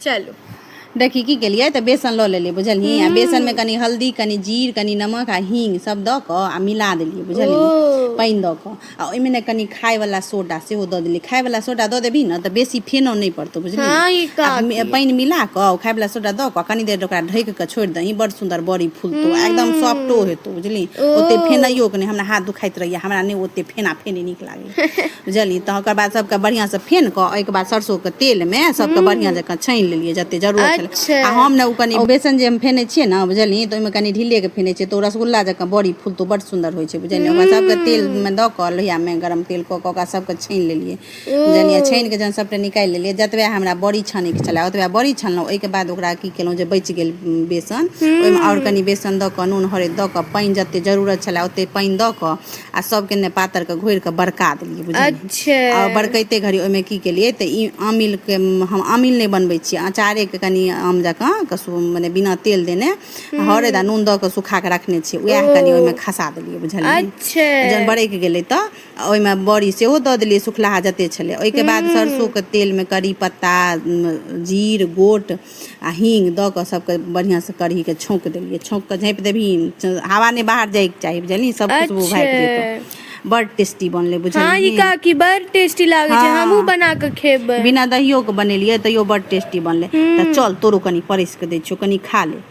चलू देखी की केलियै तऽ बेसन लऽ लेलियै बुझलियै आ बेसन में कनि हल्दी कनि जीर कनि नमक आ हींग सब दऽ कऽ आ मिला देलियै बुझलियै पानि दऽ कऽ आ ओहिमे ने कनि खायवला सोडा सेहो दऽ देलियै खायवला सोडा दऽ देबही ने तऽ बेसी फेनो नहि पड़तौ बुझलियै हँ, पानि मिला कऽ खायवला सोडा दऽ कऽ कनि देर ओकरा ढकि कऽ छोड़ि दही बड़ सुन्दर बड़ी फूलतौ आ एकदम सॉफ्टो हेतौ बुझलियै ओते फेनैयो के नहि हमरा हाथ दुखाइत रहैया हमरा नहि ओते फेना फेनी नीक लागै बुझलियै तऽ ओकर बाद सबके बढ़ियां से फेन कऽ ओहिके बाद सरसों के तेल मे सबके बढ़ियां जकाँ छानि लेलियै जते जरूरत छलै अच्छा आ हम ने ओ कनि बेसन जे हम फेने छियै ने बुझलियै तऽ ओहिमे कनि ढीले के फेने छियै तऽ ओ रसगुल्ला जकाँ बड़ी फूलतो बड सुन्दर होइ छै बुझलियै ओकरा सबके तेल हूँ मे दऽ कऽ लोहिया मे गरम तेल कऽ कऽ ओकरा सबके छानि लेलियै ओ बुझलियै छानि कऽ जहन सबटा निकालि लेलियै जतबे हमरा बड़ी छानै के छलै ओतबे बड़ी छनलहुँ ओहिके बाद ओकरा की केलहुँ जे बचि गेल बेसन ओहिमे आओर हूँ कनि बेसन दऽ कऽ नून हरैद दऽ कऽ पानि जते जरूरत छलै ओते पानि दऽ कऽ आ सभके ने पातरके घोरि कऽ बड़का देलियै बुझलियै अच्छा आ बड़कैते घड़ी ओहिमे की केलियै तऽ ई आमिलके हम आमिल नहि बनबै छियै अँचारेके कनि आम जकाँ के सु- मने बिना तेल देने हरैद आ नून दऽ कऽ सुखा कऽ रखने छियै उएह कनि ओहिमे खसा देलियै बुझलियै अच्छा जहन बरैक गेलै तऽ आ ओहिमे बड़ी सेहो दऽ देलियै सुखलाहा जते छलै ओहिके बाद सरसोके तेलमे करी पत्ता उम, जीर गोट आ हींग दऽ कऽ सभके बढ़िआँसँ कढ़ीके छौँक देलियै छौँक कऽ झाँपि देबही च- हवा नहि बाहर जाइके चाही बुझलियै सभ खुशबू अच्छा। भागि जेतौ बड़ टेस्टी बनलै हाँ ई बुझलियै काकी बड़ टेस्टी लागे छै हाँ। हमहूँ बना के खेबै बिना दहियोके बनेलियै तैयो बड़ टेस्टी बनलै तऽ चल तोरो कनि परसि कऽ दै छियौ कनि खा ले